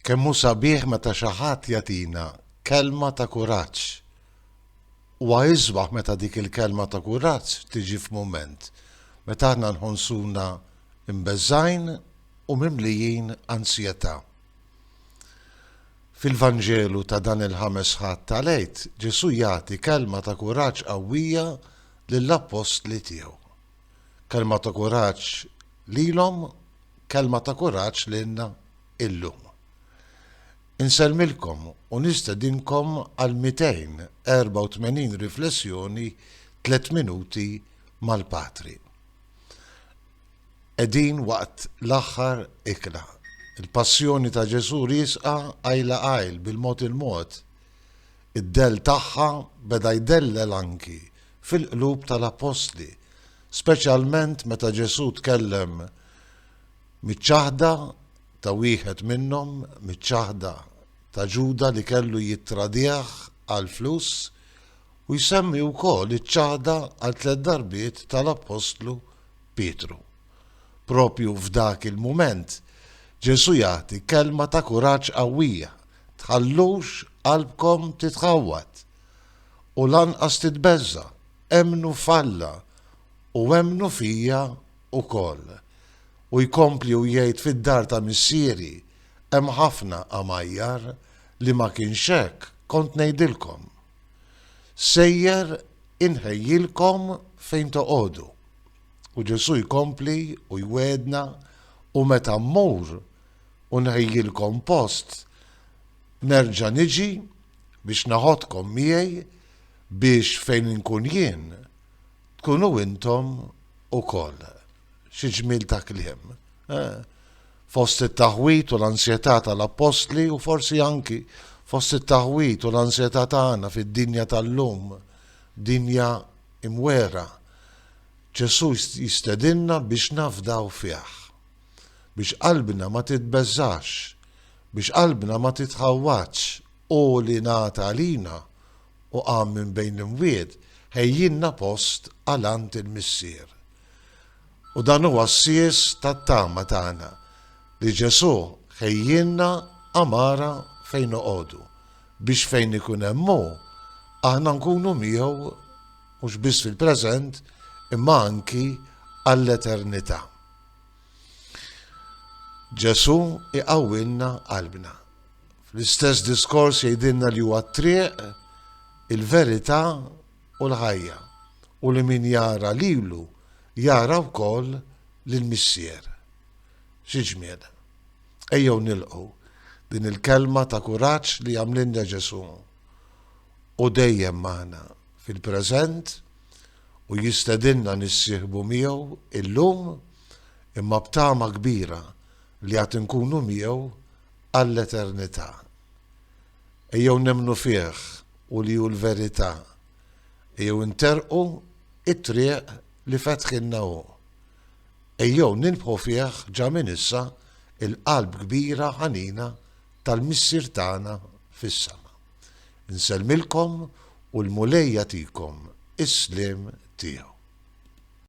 Kemm hu sabiħ meta xi ħadd jagħtina kelma ta' kuraġġ! Huwa isbaħ meta dik il-kelma ta' kuraġġ tiġi f'mument meta aħna nħossuna mbeżgħin u mimlijin ansjetà. Fil-Vanġelu ta' dan il-Ħames Ħadd tal-Għid, Ġesù jagħti kelma ta' kuraġġ qawwija lill-appostli tiegħu. Kelma ta' kuraġġ lilhom, kelma ta' kuraġġ lilna illum. Insellmilkom u nistedinkom għal 284 riflessjoni tliet minuti mal-Patri. Qegħdin waqt l-aħħar ikla. Il-passjoni ta' Ġesù riesqa għajla għajl bil-mod il-mod. Id-dell tagħha beda jdellel anki fil-qlub tal-appostli, speċjalment meta Ġesù tkellem miċ-ċaħda ta' wieħed minnhom, miċ-ċaħda ta' Ġuda li kellu jittradih għal flus, u jsemmi wkoll iċ-ċaħda għal tliet darbiet tal-appostlu Pietru. Propju f'dak il-mument, Ġesù jagħti kelma ta' kuraġġ qawwija, tħallux qalbkom titħawwad. U lanqas titbeżża', emmnu f'Alla u emmnu fija wkoll. U jkompli u jgħid fid-dar ta' Missieri hemm ħafna għamajjar, li ma kienx hekk kont ngħidilkom. Sejjer inħejjilkom fejn toqogħdu. U Ġesù jkompli u jwiegħdna, u meta mmur u nħejjilkom post, nerġa' niġi Biex naħodkom miegħi biex fejn inkun jien tkunu intom ukoll. Xi ġmiel ta' kliem. Eh? Fost it-taħwit u l-ansjetà tal-appostli u forsi anki fost it-taħwit u l-ansjetà tagħna fid-dinja tal-lum, dinja imwera. Ġesu jistedinna biex nafdaw fih, biex qalbna ma titbeżax, Biex qalbna ma titħawwadx, hu li ngħad għalina u qam minn bejn l-imwiet, ħejjielna post għal għand il-Missier. U dan huwa s-sies tat-tama tagħna, li Ġesù ħejjielna għamara fejn noqogħdu, biex fejn ikun hemm hu, aħna nkunu miegħu mhux biss fil-preżent, imma anki għall-eternità. Ġesù iqawwilna qalbna. Fl-istess diskors jgħidilna li huwa t-triq, il-verità u l-ħajja u li min jara lilu jara wkoll lill-Missier. Xi ġmiel. Ejjew nilqu din il-kelma ta' kuraġġ li għamlilna Ġesù. Hu dejjem magħna fil-preżent u jistedinna nissieħbu miegħu illum imma b'tama kbira li għad inkunu miegħu għall-eternità. Ejjew nemmnu fih u li hu l-verità. Ejjew interrqu t-triq li fetħilna hu. Ejjew nirbħu fih ġa minn issa il-qalb kbira ħanina tal-Missier tagħna fis-sema. Insellmilkom u l-Mulej jagħtikom is-sliem tiegħu.